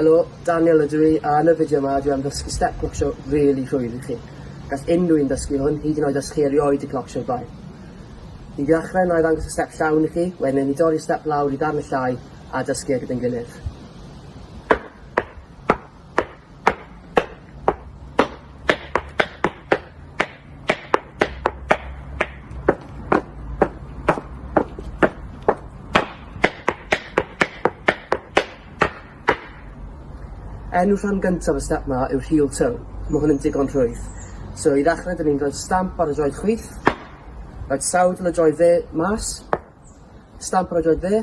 Helo, Daniel ydw i, a yn y fideo yma dwi am ddysgu step clocsio really rhwydd i chi. Gall unrhyw un ddysgu hwn, hyd yn oed os chi erioed i clocsio'r blaen. I ddechrau, na i ddangos y step llawn i chi, wedyn ni dorri step lawr i ddarn y llai a dysgu e gyda'n gilydd. Enw rhan gyntaf y step 'ma yw'r heel toe. Ma' hwn yn digon rhwydd. So i ddechre 'dyn ni'n rhoi'r stamp ar y droed chwith, rhoid sawdl y droed dde mas, Stamp ar y droed dde.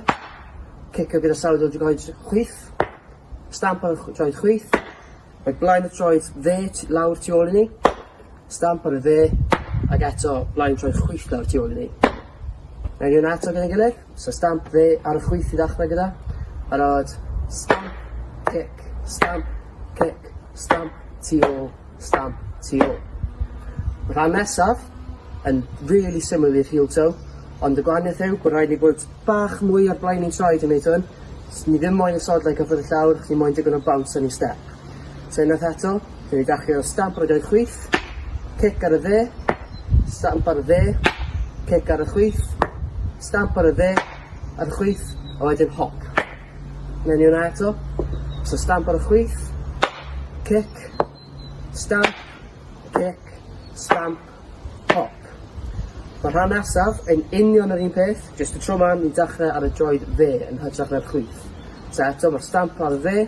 Cicio gyda sawd o'r droed chwith. Stamp ar y droed chwith. Mae blaen y troed dde lawr tu ôl i ni. Stamp ar y dde. Ac eto blaen y troed chwith lawr tu ôl i ni. Mae ni hwnna eto gyda'n gilydd. So stamp dde ar y chwith i ddechrau gyda. Barod. Stamp, cic, stamp, cic, stamp, tu ôl. Stamp tu ôl. Y rhan nesaf yn really similar i'r heel toe, ond y gwahaniaeth yw bod rhaid ni bod bach mwy ar blaen ni'n traed i wneud hwn. S- Ni ddim moyn y sodlau cyffwrdd y llawr, ni moyn digon o bounce yn ei step. So unwaith eto, dyn ni dachio stamp ar y doi chwith, cic ar y dde, stamp ar y dde, cic ar y chwith, stamp ar y dde, a'r chwith, a wedyn hop. Mewn i hwnna eto. So stamp ar y chwith. Cic. Stamp. Cic. Stamp. Pop. Mae rhan nesaf yn union yr un peth, jyst y tro ma ni'n dechrau ar y droed fe yn hytrach na'r chwith. So eto, mae'r stamp ar y fe,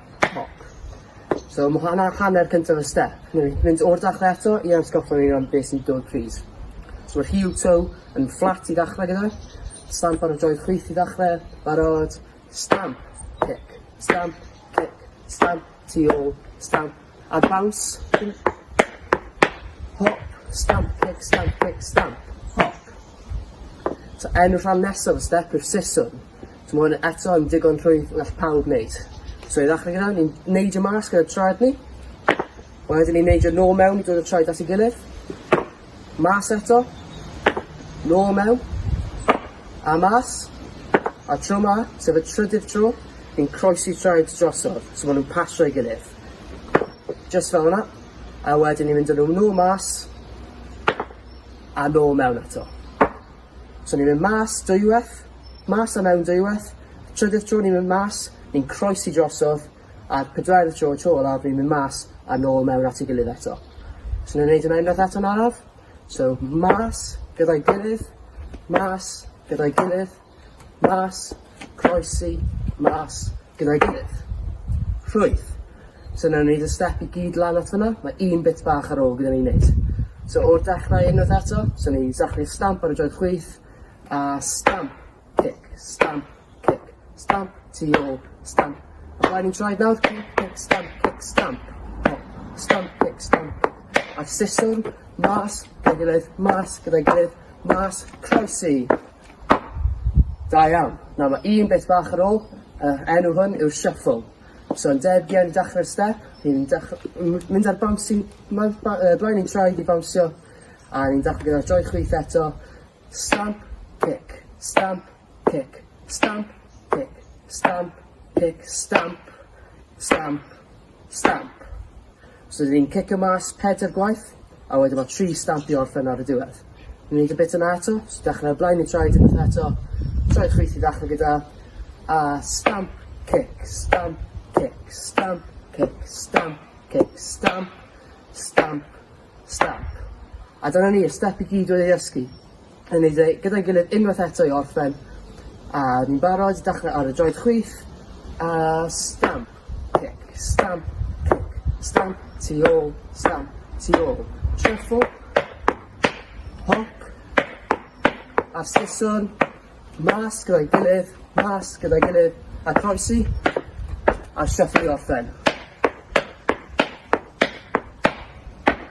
Cloc. So ma' hwnna hanner cyntaf y step. Newn ni mynd o'r dechre eto i atgoffa ni am be' sy'n dod plîs. So ma'r heel toe yn fflat i ddechre gyda fe. Stamp ar y joint chwith i ddechre. Barod. Stamp. Cic. Stamp. Cic. Stamp. Tu ôl. Stamp. A bounce. Hop. Stamp. Cic. Stamp. Cic. Stamp. Hop. So enw'r rhan nesaf y step yw'r siswrn. So mae hwn eto yn digon rhwydd all pawb wneud. So i ddechrau gyda, ni'n neidio mas gyda traed ni. Wedyn ni'n neidio nôl mewn i dod y traed at ei gilydd. Mas eto. Nôl mewn. A mas. A tro ma, sef y trydydd tro, ni'n croesi traed drosodd, so maen nhw'n pasio ei gilydd. Just fel yna. A wedyn ni'n mynd â nhw nôl mas. A nôl mewn eto. So ni'n mynd mas dwywaith, mas a mewn dwywaith, trydydd tro ni'n mynd mas, ni'n croesi drosodd, a'r pedwerydd tro, tro olaf, ni'n mynd mas a nôl mewn at ei gilydd eto. So ni'n gwneud yna unwaith eto'n araf. So mas, gyda'i gilydd, mas, gyda'i gilydd, mas, croesi, mas, gyda'i gilydd. Rhwydd. So nawn ni neud y step i gyd lan at fyna, mae un bit bach ar ôl gyda ni neud. So o'r dechrau unwaith eto, so ni sacri stamp ar y joedd chwith, a stamp, cic, stamp, cic, stamp, tu ôl, stamp. A blaen ni'n troed nawr, cic, cic, stamp, cic, stamp, hop, stamp, cic, stamp. A'r siswrn, mas, gyda'i gilydd, mas, gyda'i gilydd, mas, croesi. Da iawn. Nawr mae un beth bach ar ôl, y enw hwn yw'r shuffle. So yn debyg iawn i dachre'r step, ni'n dach- m- mynd ar bouncy ma- ba- yy blaen ein traed i bownsio a ni'n dachre gyda'r dou chwith eto, stamp, cic, stamp, cic, stamp, cic, stamp, cic, stamp, stamp, Stamp. Os ydyn ni'n cicio mas pedair gwaith, a wedyn mae tri stamp i orffen ar y diwedd. Ni'n neud y bit yna eto, so dechrau o blaen i traed unwaith eto, traed chwith i ddechrau gyda, a stamp, cic, stamp, cic, stamp, cic, stamp, cic, stamp, stamp, stamp. A dyna ni, y step i gyd oedd ei ddysgu. Yn ei dde, gyda'i gilydd unwaith eto i orffen. A ni'n barod, dechrau ar y droed chwith. A stamp, cic, stamp, cic, stamp, tu ôl, stamp, tu ôl. Treffo, hop, a siswn, mas gyda'i gilydd, mas gyda'i gilydd, a croesi, a shuffle i orffen.